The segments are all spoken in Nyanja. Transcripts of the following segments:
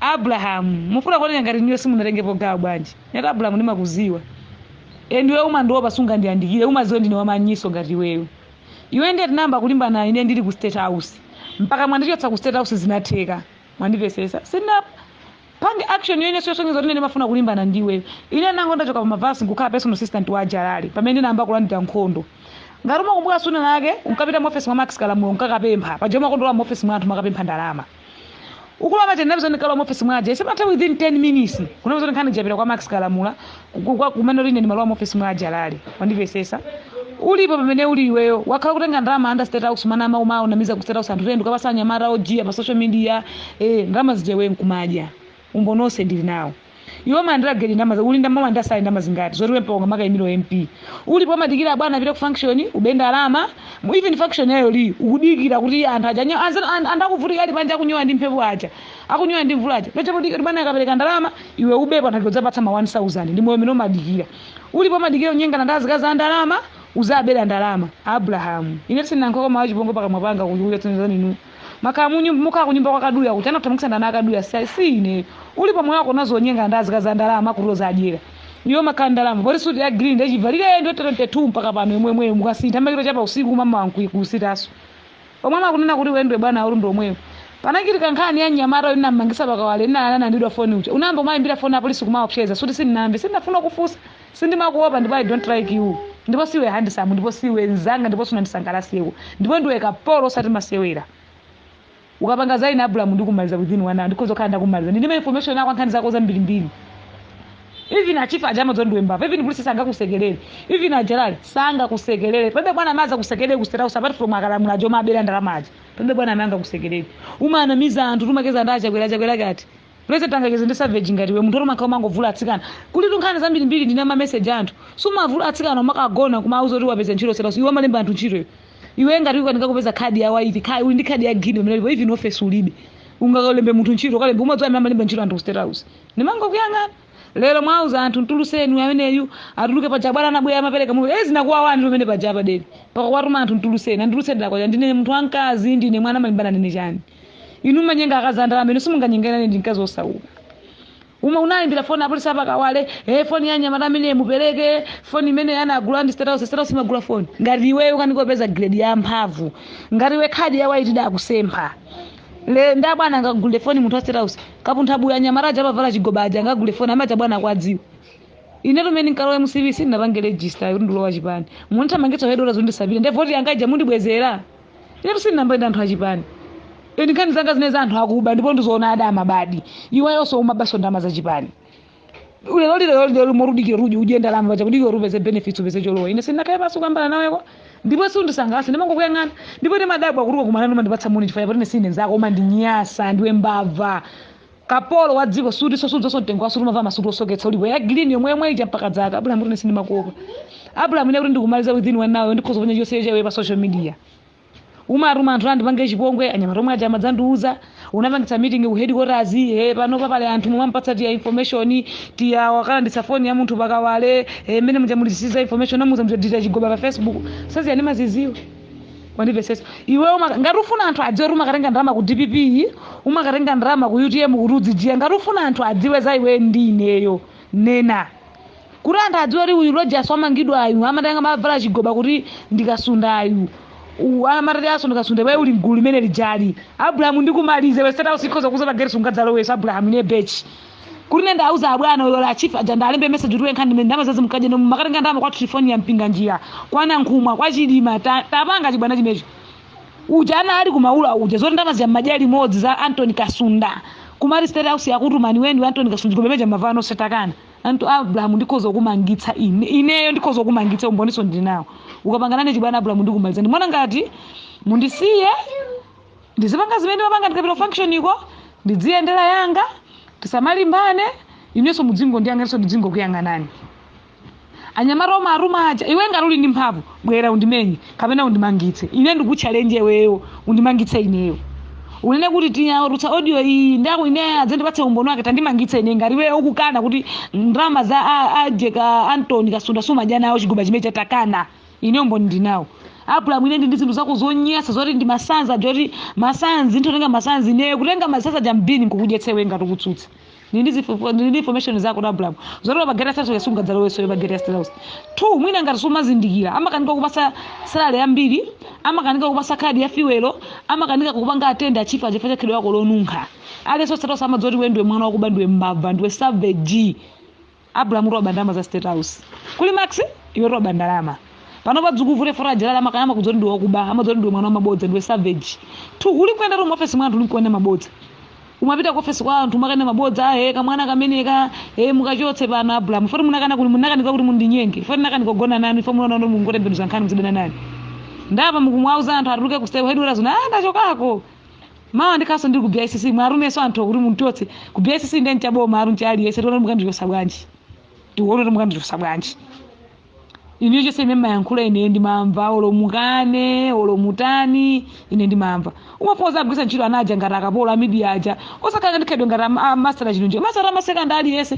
abrahamu mufuna kuoneka ngati niyo simunatengepo gawo bwanji nati abrahamu ndimakuziwa endiwe umandiopa sungandiyandikire umaziwa ndine wamanyiso ngati iweyo iwe ndiye tinayamba kulimbana ine ndili ku state house mpaka mwandichotsa ku state house zinatheka mwandipesesa sina pange action ineyo osonyeza kuti ndimafuna kulimbana ndiwe ine ndango ndachoka pa mavasi nkukhala personal assistant wa jalali pamene ndinayamba kulandira nkhondo ngati umakumbuka suna lake unkapita mu office mwa max kalamula nkakapempha pajoma kondola mu office mwa anthu umakapempha ndalama ukulowa basi ndinapeza ndikalowa mu office mwake sipanathe within 10 minutes ndinapeza kuti nkhani ija yapita kwa max kalamula ku- kwa- kumene uli ine ndimalowa mu office mwa jalali wandipesesa ulipo pamene uli iweyo wakhala kutenga ndalama under state house mana ama umawanamiza ku state house anthu kuti nde ukapasa anyamata ojiya pa social media eh ndalama zija iwe nkumadya umboni onse ndili nawo iwe umalandira geli ndalama za- uli ndalama umalandira sale ndalama zingati zoti iwe mpaka ungamakaimire u mp ulipo umadikira abwana apite ku function ube ndalama mu- even function ya iyo iliyonse ukudikira kuti anthu aja anyo- anza- an- anthu akuvutika ali panja akunyowa ndi mphepo aja akunyowa ndi mvula aja podikira kuti bwana akapereka ndalama iwe ubepo anthu udzawapatsa ma 1000 ndi moyo umene umadikira ulipo umadikira unyengana ndi azikazi a ndalama uzabera ndalama abrahamu ine sindinalankhuleko mawu achipongwe pakamwa panga kuchikuletsanizaninu umaka munyu- umakhala kunyumba kwa kaduya kuti munathamangitsana ndi akaduya si si ineyo uli pa moyo wako unazolowera kunyenga ndi azikazi a ndalama kuti uziwadyera iwe ukanakhala ndi ndalama poti suti ya green unayivalira mu 22 mpaka pano yomweyomweyo osasintha umangochapa usiku mmawa kusitanso omwe umawanena kuti iwe ndiwe bwana uli ndomwewo panachitika nkhani ya mnyamata uyu unamangisa pakawale amene analandidwa foni uja unayamba umayimbira foni apolisi kumaopseza si kuti sindinamve sindinafuna kufunsa Sindimakuopa ndipo I don't like you ndipo siwe handsome ndipo siwe nzanga ndipo sunandisangalaseko ndipo ndiwe kapolo osati masewera. Ukapanga za ine Abrahamu ndikumaliza within one hour ndikhoza kukhala ndakumaliza. Ndili ndi ma information ako ankhani zako zambirimbiri. Even achifa aja amadziwa ndiwe mbava. Even polisi sangakusekelere. Even ajalali sangakusekelere. Palibe bwana amadzakusekelera ku State House apart from akalamula aja omabera ndalama aja. Palibe bwana amene angakusekelere. Umanamiza anthu kuti umacheza nda Chakwera Chakwera wake uti. President angacheze ndi savage ngati iwe munthu oti umakhala umangovula atsikana kuli tinkhani zambirimbiri ndili ndi ma message oti umavula atsikana umakawagona kumauza kuti wapeza ntchito ku state house iwe umalemba anthu ntchito iwe iwe ngati ukanika kupeza khadi ya white uli ndi khadi ya green mmene ulili pano even office ulibe ungakalembe munthu ntchito ukalembe umadziwa amene amalemba ntchito anthu ku state house ndimangokuyang'ana lero mwauza anthu mtuluseni uyu ameneyu atuluke paja bwana anabwera amapereka mwezi unakuwawa anthu pamene paja apa den pakuwatuma anthu mtuluseni anditulutsiradi kwaja ndine munthu wamkazi ndine mwana mumalimbana ndine chani inu mumanyenga akazi a ndalama amene simunganyengane ndi mkazi wosauka uma unayimbira foni apolisi apakawale e foni ya nyamata amene mupereke foni imene anagula ndi state house state house imagula foni ngati iweyo ukukanika kupeza grade ya mphamvu ngati iwe khadi ya waiti idakusempha le nda bwana angagule foni munthu wa state house kapuntha buya nyamata aja amavala chigoba aja angagule foni amaja bwana akudziwa inetu mmene nkalowa mcp sindinapange register kuti ndilowa chipani mundithamangitsa zoti ndisapite nde voti yangaija mundibwezera inetu sindinanamepo ndi anthu achipani eni nkhani zanga zimene za anthu akuba ndipo ndizoona ada amabadi iwayonso umabanso ndalama zachipani lero lero lero moti udikira kuti udye ndalama paja kudikira kuti upeze benefits upeze cholowa ine sindinakhale pansi kuyambana nawe ndipo sundisangalatsa ndimangokuyang'ana ndipo ndimadabwa kuti tikakumana umandipatsa moni chifukwa chakuti ine si ine nzako umandinyansa ndiwe mbava kapolo wa dziko suti sudziwanso mtengo wa suti umavala masuti osoketsa ulipo ya green yomwe yomwe ija mpaka dzaka abrahamu kuti ine sindimakuopa abrahamu ine kuti ndikumaliza within one hour ndikhoza kuponya chonse cha iwe pa social media umatuma anthu andipange chipongwe anyamata omwe aja amadzandiuza unapangitsa meeting ku headquarters he pano papali anthu mumampatsa tiya information tiya wakalanditsa foni ya munthu pa Kawale eh, mmene muja mulisiza information amuza muja dita chigoba pa facebook sadziwa ndimazidziwa wandimvetsetsa iwe umaka- ngati ufuna anthu adziwe kuti umakatenga ndalama ku dpp iyi umakatenga ndalama ku utm kuti uzidya ngati ufuna anthu adziwe za iwe ndi ineyo nena kuti anthu adziwe kuti uyu rogers wamangidwayu amatenga mavala chigoba kuti ndikasundayu U- amatati aso ndikasunde iwe uli mgulu limene lija abrahamu ndikumalize iwe State House ikhoza kukuuza pageti sungadzalowenso abrahamu ine bechi kuti ine ndawauza abwana uyo wa chief aja ndalembe message kuti iwe nkhani imene ndama zazi mkaje nomwe umakatenga ndama kwa telefoni ya mpinga njira kwa nankhumwa kwa chidima ta- tapanga chibwana chimecho uja ana ali ku Maula uja zoti ndama zya maja limodzi za antony kasunda kumati State house yakutumani iwe ndi antony kasunda kumemeja mavano satakana anthu abrahamu ndikhoza kumangitsa ine ineyo ndikhoza kumangitsa umboninso ndinawo ukapanga nane chibwana abrahamu ndikumaliza ndimaona ngati mundisiye ndizipanga zimene ndimapanga ndikapita ku function iko ndidziyendera yanga tisamalimbane inenso mudzingondiyang'ananso ndidzingokuyang'anani anyamata omwe atuma aja iwe ngati uli ndi mphamvu bwera undimenye kapena undimangitse ine ndikutchalenje iweyo undimangitse ineyo unene kuti tiya watulutsa audio iyi ndi yako ine adzandipatse umboni wake tandimangitse ine ngati iweyo ukukana kuti ndalama za a- ajeka antoni kasunda sumadya nawo chigoba chimene chatakana ine umboni ndinawo abrahamu ine ndi ndi zinthu zako zonyansa zoti ndi masanzi zoti masanzi nditatenga masanzi ineyo kutenga masanzi aja m'bini nkukudyetsa iwe ngati ukutsutsa ndili ndi zifo- ndili ndi information zako iwe abrahamu zoti pa geti ya State House sungadzalowenso pa geti ya State House two mwina ngati sumazindikira amakanika kukupatsa salary yambiri amakanika kukupatsa kadi ya fiwelo amakanika kupanga atenda achifa chifukwa cha khalidwe lako lonunkha aliyense ku State House amadziwa zoti iwe ndiwe mwana wakuba ndiwe mbava ndiwe savage abrahamu utaba ndalama za state house kuli max iwe utaba ndalama panopa zikukuvuta fota jalala amakaya amakudziwa zoti ndiwe wakuba amadziwa zoti ndiwe mwana wamabodza ndiwe savage tu uli kuyenda tu muofesi mwa anthu uli kuenda mabodza umapita ku ofesi kwa anthu umakanena mabodza ahe kamwana kameneka e mukachotse pano abrahamu poti ndinakana kuti munakanika kuti mundinyenge poti ndinakana kugona nanu ifo munaona kuti mungotembenuza nkhani muzidana nane nde apa mukumwauza anthu atuluke ku state headquarters nde ah ndachokako mawa ndikhalanso ndili ku bicc mwatumanso anthu okuti mundichotse ku bicc ndi cha boma alu ncha aliyense tione kuti mukandichosa bwanji tione kuti mukandichosa bwanji ine zonse zimene mayankhula ine ndimamva olo mukane olo mutani ine ndimamva umangowagwiritsa ntchito ana aja ngati akapolo a media aja osakhala ndikhedwe ngati ama- a- master chino nje master amaseka ndi aliyense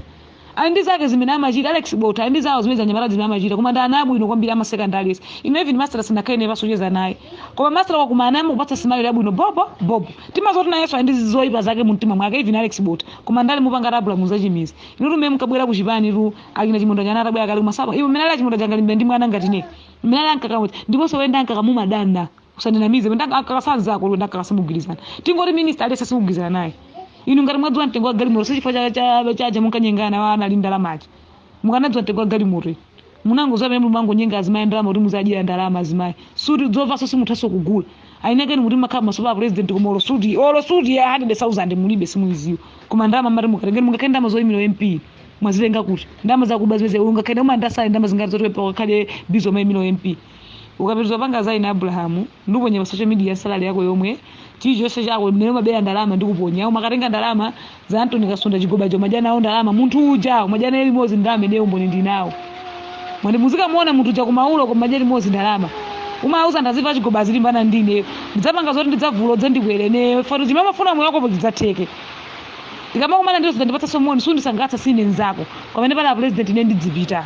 Ali ndi zake zimene amachita Alex Botha ali ndi zawo zimene zanyamata zimene amachita koma ndi ana abwino kwambiri amaseka ndi aliyense ine even master sindinakhale naye pansi kucheza naye koma master ukakumana naye amakupatsa smile yabwino bobo bobo timadziwa kuti nayenso ali ndi zoyipa zake mu mtima mwake even Alex Botha koma ndale mupanga abraham muzachimiza inutu mmene mukabwera ku chipani tu akina chimunda nyana atabwera kale kumasaba iwe mmene ali achimunda jangalimbe ndi mwana ngati ne mmene ali ankakamuti ndiponso wenda ankakamumadanda usandinamize ndakakasa anzako ndakakasa simugwirizana tingoti minista aliyense simugwirizana naye inu ngati mwadziwa mtengo wa galimoto sichifukwa cha- cha- chaja munkanyengana nawo anali ndalama aja mukanadziwa mtengo wa galimoto iyi. munangodziwa pamene mumangonyenga azimayi ndalama kuti muziadyera ndalama azimayi suti dzovanso simuthanso kugula ainakeni kuti mukakhala maso pa a president koma olo suti olo suti ya 100000 mulibe simuidziwa koma ndalama mati mukatengeni mungakhale ndi ndalama zoyimira mp mwazitenga kuti ndalama zakuba zimene ungakhale uma salary ndalama zingati zotipepa ukakhale bizo umayimira mp ukapitiriza kupanga za ine abraham ndikuponya pa social media salary yako yomwe chilichonse chako mmene umabera ndalama ndikuponya umakatenga ndalama za anthony kasunda chigobacho umadya nawo ndalama munthu uja umadya naye limodzi ndalama ineyo umboni ndili nawo mwati muzikamuona munthu uja ku maula kumadya limodzi ndalama umauza ndadziwa chigoba uzilimbana ndi ine ndidzapanga zoti ndidzavula udze ndikwere neyo fatu zimene amafuna moyo wakopo zidzatheke ndikamakumana nawe uzindipatsa somoni sundisangalatsa sindine nzako pamene pali a president ine ndidzipita